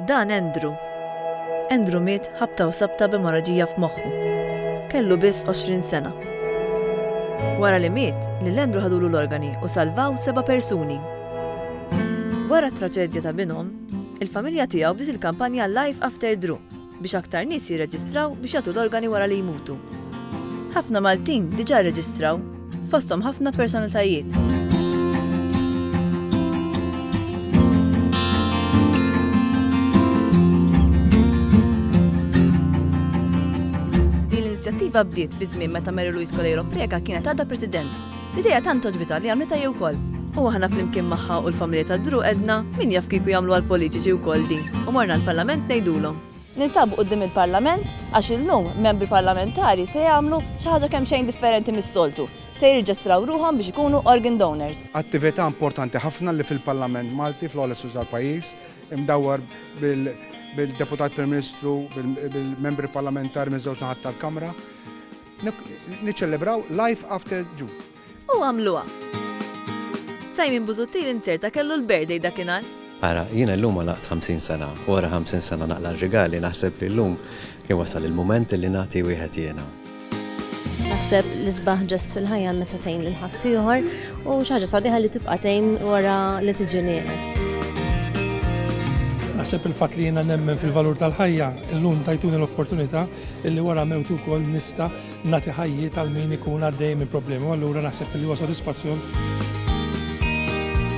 Dan Andrew. Andrew miet ħabta u sabta b'emorraġija f'moħħu. Kellu biss 20 sena. Wara li miet, lil Andrew ħadulu l-organi u salvaw seba' persuni. Wara t-traġedja ta' binhom, il-familja tiegħu bdiet il-kampanja Life After Drew. biex aktar nies jirreġistraw biex jagħtu l-organi wara li jmutu. Ħafna Maltin diġà rreġistraw, fosthom ħafna personalitajiet. Din l-inizjattiva bdiet fi żmien meta Mary Louise Coleiro Preca kienet għadha President L-idea tant għoġbitha li għamlitha hi wkoll. U aħna flimkien magħha u l-familja ta' Drew għedna, min jaf kieku jagħmluha l-politiċi wkoll din, u morna l-Parlament ngħidulhom. Ninsabu quddiem il-Parlament għax illum membri parlamentari se jagħmlu xi ħaġa kemxejn differenti mis-soltu, se jirreġistraw ruħhom biex ikunu organ donors. Attività importanti ħafna li fil-Parlament Malti, fl-ogħla istituzzjoni tal-pajjiż, imdawwar bil-Deputat Prim Ministru, bil-membri parlamentari miż-żewġ naħat tal-Kamra, Niċċelebraw Life After June. U għamluha. Simon Busuttil inzerta kellu l-birthday dakinhar. Ara, jiena llum għalaqt 50 sena, u wara 50 sena naqla r-rigali, naħseb li llum kien wasal il-mument li nagħti wieħed jiena. Naħseb li sbaħ ġest fil-ħajja meta tgħin lil ħadd ieħor u xi ħaġa sabiħa li tibqa' tgħin wara li tiġi nieqes. Naħseb il-fatt li jiena nemmen fil-valur tal-ħajja, illum tajtuni l-opportunità illi wara mewtu wkoll nista' nagħti ħajjiet għal min ikun għaddej minn problemi u allura naħseb li huwa sodisfazzjon.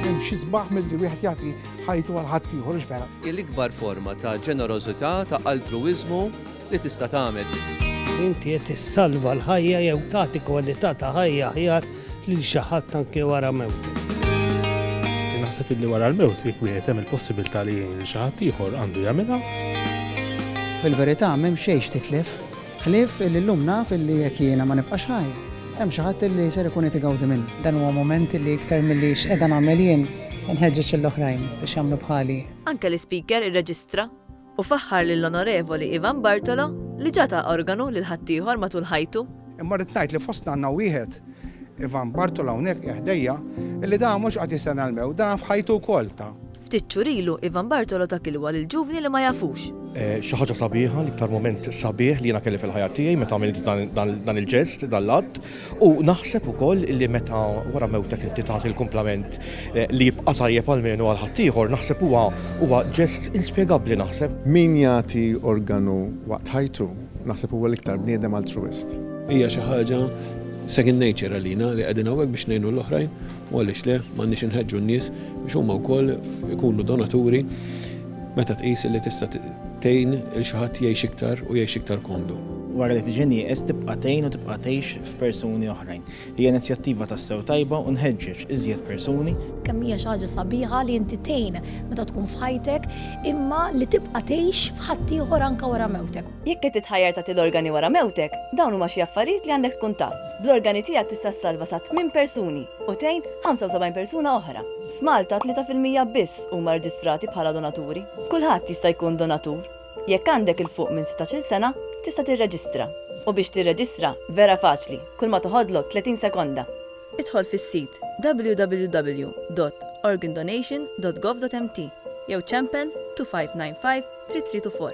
Hemm xi sbaħ milli wieħed jagħti ħajtu għal ħadd ieħor vera. Il-ikbar forma ta' ġenerożità ta' altruwiżmu li tista' tagħmel. Inti qed issalva l-ħajja jew tagħti kwalità ta' ħajja aħjar lil xi ħadd anke wara mewt. Naħseb illi wara l-mewt jekk wieħed hemm il-possibilità li jgħin xi ħadd ieħor għandu jagħmilha. Fil-verità m'hemm xejn titlef, ħlief illi llum naf illi jekk jiena ma nibqax ħaj, hemm xi ħadd illi ser ikun qed igawdi minn. Dan huwa mument illi iktar milli x'qiegħda nagħmel jien, inħeġġeġ lill-oħrajn biex jagħmlu bħali. Anke l-Ispeaker irreġistra. u faħħar lill-Onorevoli Ivan Bartolo li ġa ta organu lil ħaddieħor matul ħajtu. Imma rrid ngħid li fostna għandna wieħed, Ivan Bartolo hawnhekk qiegħ ħdejja, illi da mhux qed jistenna l-mewt, da f'ħajtu wkoll ta. Ftit xhur ilu Ivan Bartolo ta kilwa lil ġuvni li ma jafux. Xi ħaġa sabiħa, l-iktar mument sabiħ li jiena kelli fil-ħajja tiegħi meta għamilt dan il-ġest, dan l-att. U naħseb ukoll li meta wara mewtek inti tagħti l-kumplament li jibqa' tajjeb almenu għal ħaddieħor, naħseb huwa huwa ġest inspjegabbli naħseb. Min jagħti organu waqt ħajtu, naħseb huwa l-iktar bniedem altruwist. Hija xi ħaġa second nature għalina li qegħdin hawnhekk biex ngħinu l-oħrajn u għaliex le, m'għandniex inħeġġu n-nies biex huma wkoll ikunu donaturi. Meta tqis li tista' tgħin lil xi ħadd jgħix iktar u jgħix iktar komdu. Wara li tiġi nieqes tibqa' tgħin u tibqa' tgħix f'persuni oħrajn. Hija inizjattiva tassew tajba u nħeġġeġ iżjed persuni. Kemm hija xi ħaġa sabiħa li inti tgħin meta tkun f'ħajtek imma li tibqa' tgħix f'ħaddieħor anke wara mewtek. Jekk qed titħajjar tagħti l-organi wara mewtek, dawn huma xi affarijiet li għandek tkun taf. Bl-organi tiegħek tista' ssalva sa tmien persuni u tgħin 75 persuna oħra. F'Malta tlieta fil-mija biss huma rreġistrati bħala donaturi. Kulħadd jista' jkun donatur. Jekk għandek 'il fuq minn sittax-il sena, tista' tirreġistra. U biex tirreġistra, vera faċli, kulma toħodlok tletin sekonda. Idħol fis-sit www.organdonation.gov.mt jew ċempel 2595 332 4.